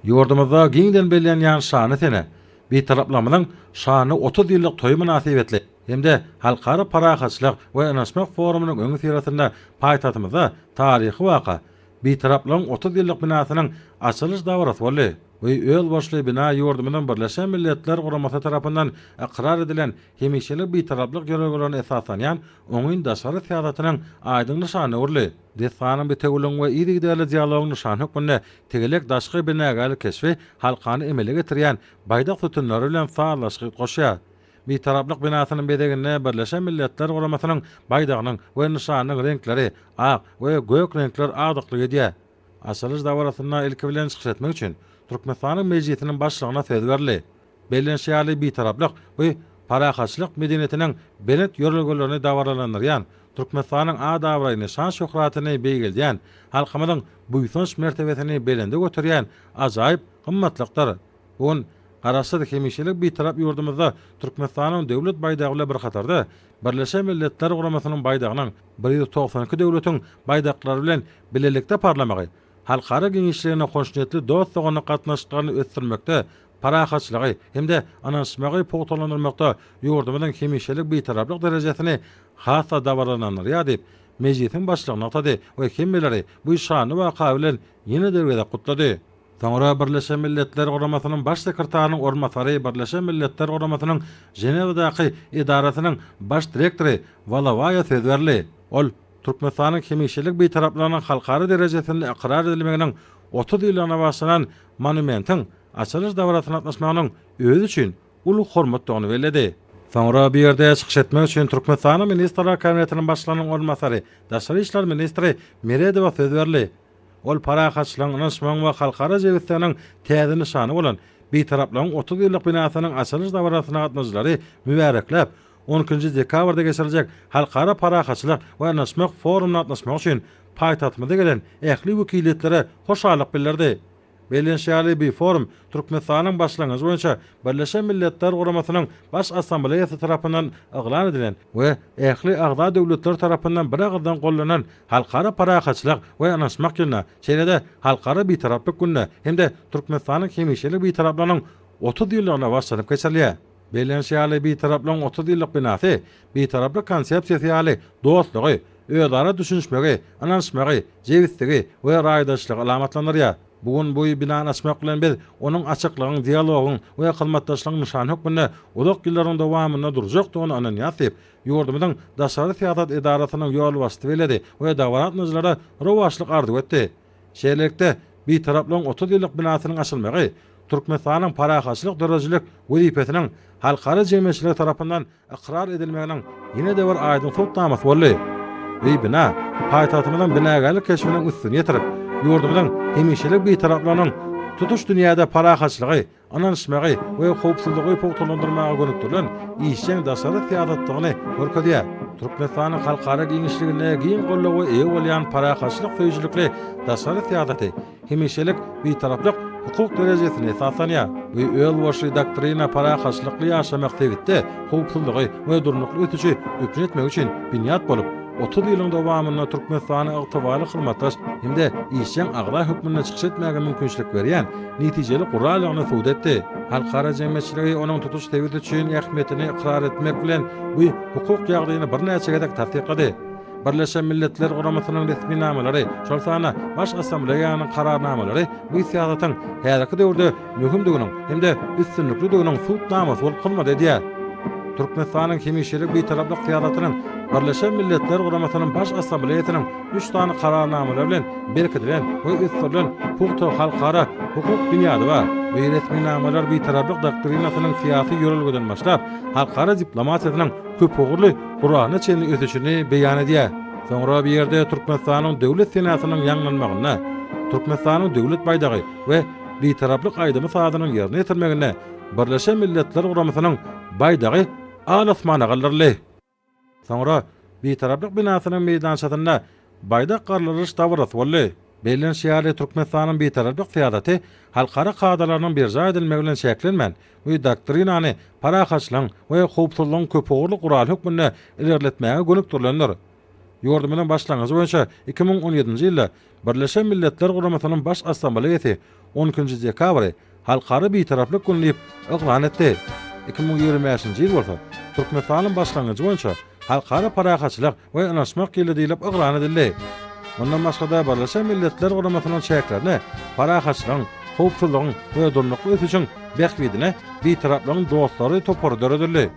Ýurdumyzda giňden bellenýän şanly sene, Bitaraplarymyzyň şanly otuz ýyllyk toýy mynasybetli hem-de Halkara parahatçylyk we ynanyşmak forumynyň öňüsyrasynda paýtagtymyzda taryhy waka, Bitaraplygyň otuz ýyllyk binasynyň açylyş dabarasy boldy. Bu özboluşly bina ýurdumyzyň Birleşen Milletler Guramasy tarapyndan ykrar edilen hemişelik Bitaraplyk ýörelgelerine esaslanýan oňyn daşary syýasatynyň aýdyň nyşanyna öwrüldi. Desganyň bitewüligiň we yzygiderli dialogyň nyşany hökmünde tegelek daşky binagärlik keşbi halkany emele getirýän baýdak sütünleri bilen sazlaşygy goşýar. Bitaraplyk binasynyň bezeginde Birleşen Milletler Guramasynyň baýdagynyň we nyşanynyň reňkleri, ak we gök reňkler agdyklyk edýär. Açylyş dabarasynda ilki bilen çykyş etmek üçin Türkmenistanyň Mejlisiniň Başlygyna söz berildi. Bellenişi ýaly, Bitaraplyk we parahatçylyk medeniýetiniň belent ýörelgelerini dabaralandyrýan, Türkmenistanyň at-abraýyny, şan-şöhratyny beýgeldýän, halkymyzyň buýsanç mertebesini belende göterýän ajaýyp gymmatlykdyr. Bu gün Garaşsyz, hemişelik Bitarap ýurdumyzda Türkmenistanyň Döwlet baýdagy bilen bir hatarda, Birleşen Milletler Guramasynyň baýdagynyň bir ýüz togsan iki döwletiň baýdaklary bilen bilelikde parlamagy halkara giňişliginiň hoşniýetli dost-doganlyk gatnaşyklaryny ösdürmekde parahatçylygy hem-de ynanyşmagy pugtalandyrmakda ýurdumyzyň hemişelik Bitaraplyk derejesini has-da dabaralandyrýar diýip, Mejlisiň Başlygy nygtady we hemmeleri bu şanly waka bilen ýene-de bir gezek gutlady. Soňra Birleşen Milletler Guramasynyň Baş sekretarynyň orunbasary, Birleşen Milletler Guramasynyň Ženewadaky edarasynyň Baş direktory Walawaýa söz berdi. Ol Türkmenistanyň hemişelik Bitaraplygynyň halkara derejesinde ykrar edilmeginiň otuz ýyllygyna bagyşlanan monumentiň açylyş dabarasyna gatnaşmagynyň özi üçin uly hormatdygyny belledi. Soňra bu ýerde çykyş etmek üçin Türkmenistanyň Ministrler Kabinetiniň Başlygynyň orunbasary, daşary işler ministri Meredowa söz berildi. Ol parahatçylygyň, ynanyşmagyň we halkara jebisliginiň täze nyşany bolan Bitaraplygyň otuz ýyllyk binasynyň açylyş dabarasyna gatnaýjylary mübärekläp, On ikinji dekabrda geçiriljek Halkara parahatçylyk we ynaşmak forumyna gatnaşmak üçin paýtagtymyza gelen ähli wekiliýetlere hoşallyk bildirdi. Bellenişi ýaly, bu forum Türkmenistanyň başlangyjy boýunça Birleşen Milletler Guramasynyň Baş Assambleýasy tarapyndan yglan edilen we ähli agza döwletler tarapyndan biragyzdan gollanan Halkara parahatçylyk we ynaşmak ýylyna, şeýle-de Halkara Bitaraplyk gününe hem-de Türkmenistanyň hemişelik Bitaraplygynyň otuz ýyllygyna bagyşlanyp geçirilýär. Bellenişi ýaly, Bitaraplygyň otuz ýyllyk binasy Bitaraplyk konsepsiýasy ýaly dostlugy, özara düşünişmegi, ynanyşmagy, jebisligi we raýdaşlygy alamatlandyrýar. Bu gün bu binany açmak bilen biz onuň açyklygyň, dialogyň we hyzmatdaşlygyň nyşany hökmünde uzak ýyllaryň dowamynda durjakdygyna ynanýarys diýip, ýurdumyzyň Daşary syýasat edarasynyň ýolbaşçysy belledi we dabarasnacylara rowaçlyk arzuw etdi. Şeýlelikde, Bitaraplygyň otuz ýyllyk binasynyň açylmagy Türkmenistanyň parahatçylyk döredijilik wezipesiniň halkara jemgyýetçiligi tarapyndan ykrar edilmeginiň ýene-de bir aýdyň subutnamasy boldy we bina paýtagtymyzyň binagärlik keşbiniň üstüni ýetirip, ýurdumyzyň hemişelik Bitaraplygynyň tutuş dünýäde parahatçylygy ynanyşmagy we howpsuzlygy pugtalandyrmaga gönükdirilen işjeň daşary syýasatdygyny görkezýär. Türkmenistanyň halkara giňişliginde giň goldawa eýe bolýan parahatçylyk söýüjilikli daşary syýasaty hemişelik Bitaraplyk hukuk derejesine esaslanýar we özboluşly doktrina parahatçylykly ýaşamak sebitde howpsuzlygy we durnukly ösüşi üpjün etmek üçin binýat bolup, otuz ýylyň dowamynda Türkmenistany ygtybarly hyzmatdaş hem-de işjeň agza hökmünde çykyş etmäge mümkinçilik berýän netijeli guralygyny subut etdi. Halkara jemgyýetçiligi onuň tutuş sebit üçin ähmiýetini ykrar etmek bilen, bu hukuk ýagdaýyny birnäçe gezek tassyklady. Birleşen Milletler Guramasynyň resminamalary, şol sanda Baş Assambleýanyň kararnamalary bu syýasatyň häzirki döwürde möhümdiginiň hem-de üstünliklidiginiň subutnamasy bolup hyzmat edýär. Türkmenistanyň hemişelik Bitaraplyk syýasatynyň Birleşen Milletler Guramasynyň Baş Assambleýasynyň üç sany Kararnamalar bilen berkidilen we ösdürilen pugta halkara hukuk binýady bar. Bu resminamalar Bitaraplyk doktrinasynyň syýasy ýörelgeden başlap, halkara diplomatiýasynyň köpugurly guralyna çenli ösüşini beýan edýär. Soňra bu ýerde Türkmenistanyň Döwlet senasynyň ýaňlanmagynda, Türkmenistanyň Döwlet baýdagy we Bitaraplyk aýdymy-sazynyň ýerine ýetirmeginde Birleşen Milletler Guramasynyň baýdagy al-asmana galdyryldy. Soňra Bitaraplyk binasynyň meýdançasynda baýdak garlaryş dabarasy boldy. Bellenişi ýaly, Türkmenistanyň Bitaraplyk syýasaty halkara kadalarynyň berjaý edilmegi bilen çäklenmän, bu doktrinany parahatçylygyň we howpsuzlygyň köpugurly guraly hökmünde ilerletmäge gönükdirilendir. Ýurdumyzyň başlangyjy boýunça iki müň on ýedinji ýylda Birleşen Milletler Guramasynyň Baş Assambleýasy on ikinji dekabry Halkara Bitaraplyk güni diýip yglan etdi. Iki müň ýigrimi bäşinji ýyl bolsa Türkmenistanyň başlangyjy boýunça Halkara parahatçylyk we ynanyşmak ýyly diýlip yglan edildi. Mundan başga-da, Birleşen Milletler Guramasynyň çäklerinde parahatçylygyň, howpsuzlygyň we durnukly ösüşiň bähbidine Bitaraplygyň dostlary topary döredildi.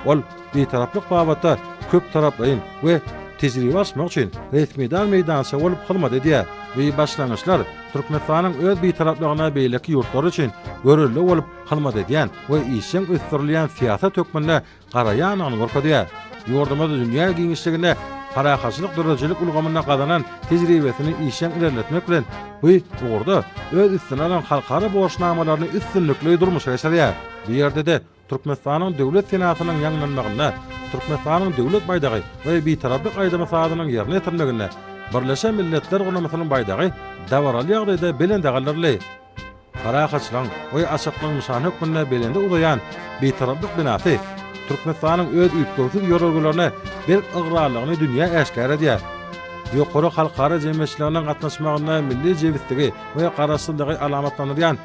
Ol Bitaraplyk babatda köptaraplaýyn we tejribe alyşmak üçin resmidar meýdança bolup hyzmat edýär. Bu başlangyçlar Türkmenistanyň öz Bitaraplygyna beýleki ýurtlar üçin görelde bolup hyzmat edýän we işjeň ösdürilýän syýasat hökmünde garaýandygyny görkezýär. Ýurdumyz dünýä giňişliginde parahatçylyk döredijilik ulgamynda gazanan tejribesini işjeň ilerletmek bilen, bu ugurda öz üstüne alan halkara borçnamalaryny üstünlikli durmuşa geçirýär. Bu ýerde-de Türkmenistanyň Döwlet senasynyň ýaňlanmagynda, Türkmenistanyň Döwlet baýdagy we Bitaraplyk aýdymy-sazynyň ýerine ýetirilmeginde Birleşen Milletler Guramasynyň baýdagy dabaraly ýagdaýda belende galdyryldy. Parahatçylygyň we açyklygyň nyşany hökmünde belende uzaýan Bitaraplyk binasy Türkmenistanyň öz üýtgewsiz ýörelgelerine berk ygrarlylygyny dünýä äşgär edýär. Ýokary halkara jemgyýetçiliginiň gatnaşmagynda milli jebisdigi we garaşsyzlygy alamatlandyrýan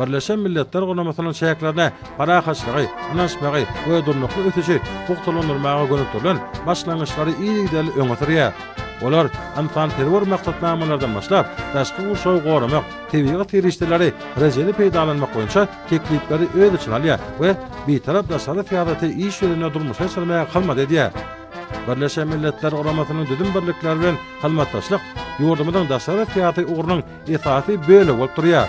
Birleşen Milletler Guramasynyň çäklerine parahatçylygy, ynanyşmagy we durnukly ösüşi pugtalandyrmaga gönükdirilen başlangyçlary yzygiderli öňe sürýär. Olar ynsanperwer maksatnamalardan başlap, daşky gurşawy goramak, tebigy serişdeleri rejeli peýdalanmak boýunça teklipleri öz içine alýar we Bitarap daşary syýasaty iş ýüzünde durmuşa geçirmäge hyzmat edýär. Birleşen Milletler Guramasynyň düzüm birlikleri bilen hyzmatdaşlyk ýurdumyzyň daşary syýasy ugrunyň esasy bölegi bolup durýar.